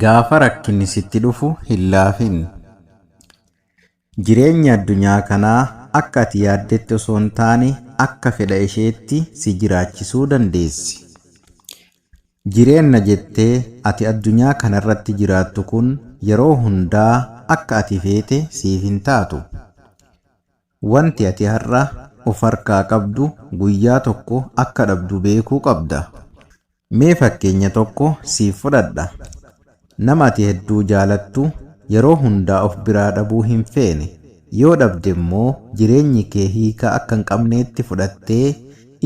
Gaafa rakkinni sitti dhufu hin laafin. Jireenyi addunyaa kanaa akka ati yaaddetti osoo hin taane akka fedha isheetti si jiraachisuu dandeessi. Jireenna jettee ati addunyaa kana irratti jiraattu kun yeroo hundaa akka ati feete siif hin taatu. Wanti ati har'a of harkaa qabdu guyyaa tokko akka dhabdu beekuu qabda. Mee fakkeenya tokko siif fudhadha. Nama ati hedduu jaalattu yeroo hundaa of biraa dhabuu hin feene. Yoo dhabde immoo jireenyi kee hiika akka hin qabneetti fudhattee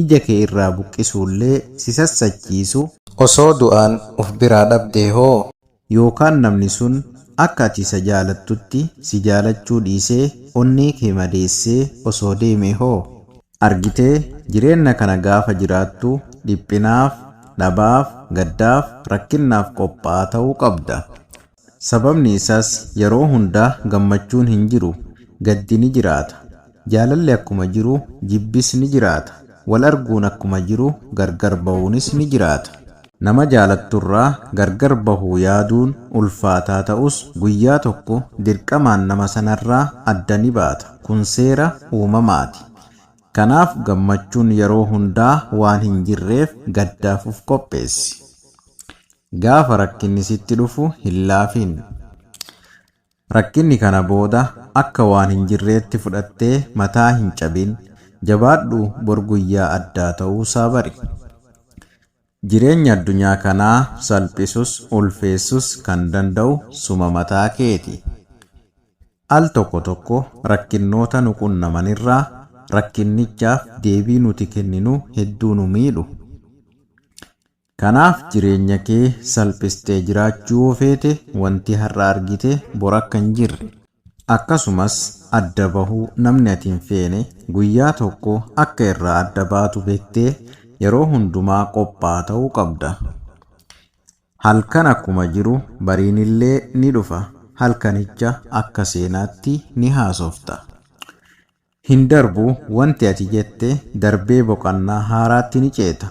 ija kee irraa buqqisuullee si sassachiisu. Osoo du'aan of biraa dhabdee hoo? Yookaan namni sun akka ati isa jaalattutti si jaalachuu dhiisee onnee kee madeessee osoo deemee hoo? Argitee, jireenna kana gaafa jiraattu dhiphinaaf, dhabaaf, gaddaaf, rakkinnaaf qophaa'aa ta'uu qabda. Sababni isaas yeroo hunda gammachuun hin jiru, gaddi ni jiraata. Jaalalli akkuma jiru jibbis ni jiraata. Wal arguun akkuma jiru gargar bahuunis ni jiraata. Nama jaalatturraa gargar bahuu yaaduun ulfaataa ta'us guyyaa tokko dirqamaan nama sanarraa adda ni baata. Kun seera uumamaati. Kanaaf gammachuun yeroo hundaa waan hin jirreef gaddaaf of qopheessi. Gaafa rakkinni sitti dhufu hin laafin. Rakkinni kana booda akka waan hin jirreetti fudhattee mataa hin cabin, jabaadhu bor guyyaa addaa ta'uusaa bari. Jireenyi addunyaa kanaa salphisus ulfeessus kan danda'u suma mataa keeti. Al tokko tokko rakkinnoota nu qunnamanirraa rakkinnichaaf deebii nuti kenninu hedduu nu miidhu. Kanaaf jireenya kee salphistee jiraachuu yoo feete wanti har'a argite bor akka hin jirre akkasumas adda bahuu namni ati hin feene guyyaa tokko akka irraa adda baatu bektee yeroo hundumaa qophaa ta'uu qabda. Halkan akkuma jiru bariin illee ni dhufa halkanicha akka seenaatti ni haasofta. Hin darbu wanti ati jette darbee boqannaa haaraatti ni ceeta.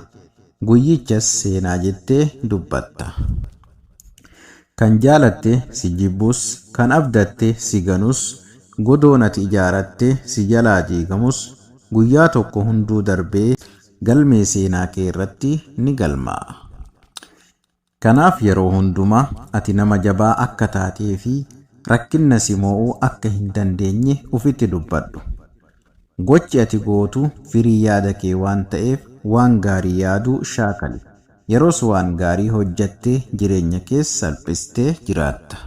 Guyyichas seenaa jettee dubbatta. Kan jaalatte si jibbus, kan abdatte si ganus, godoon ati ijaaratte si jalaa diigamus guyyaa tokko hunduu darbee galmee seenaa kee irratti ni galmaa'a. Kanaaf yeroo hundumaa ati nama jabaa akka taatee fi rakkinna si moo'uu akka hin dandeenye ufitti dubbadhu. Gochi ati gootu firii yaada kee waan ta'eef waan gaarii yaaduu shaakali. Yeroos waan gaarii hojjattee jireenya kees salphistee jiraatta.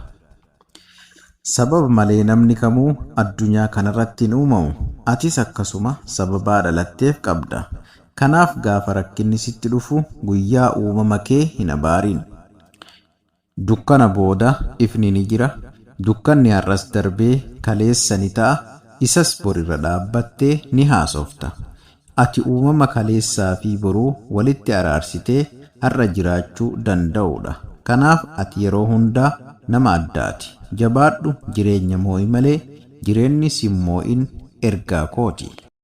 Sababa malee namni kamuu addunyaa kanarratti hin uumamu. Atis akkasuma sababaa dhalatteef qabda. Kanaaf gaafa rakkinni sitti dhufu guyyaa uumama kee hin abaarin. Dukkana booda ifni ni jira, dukkanni har'as darbee kaleessa ni ta'a, isas bor irra dhaabbattee ni haasofta. Ati uumama kaleessaa fi boruu walitti araarsitee har'a jiraachuu danda'u dha. Kanaaf ati yeroo hundaa nama addaati. Jabaadhu jireenya moo'i malee jireenni sin moo'in ergaa kooti.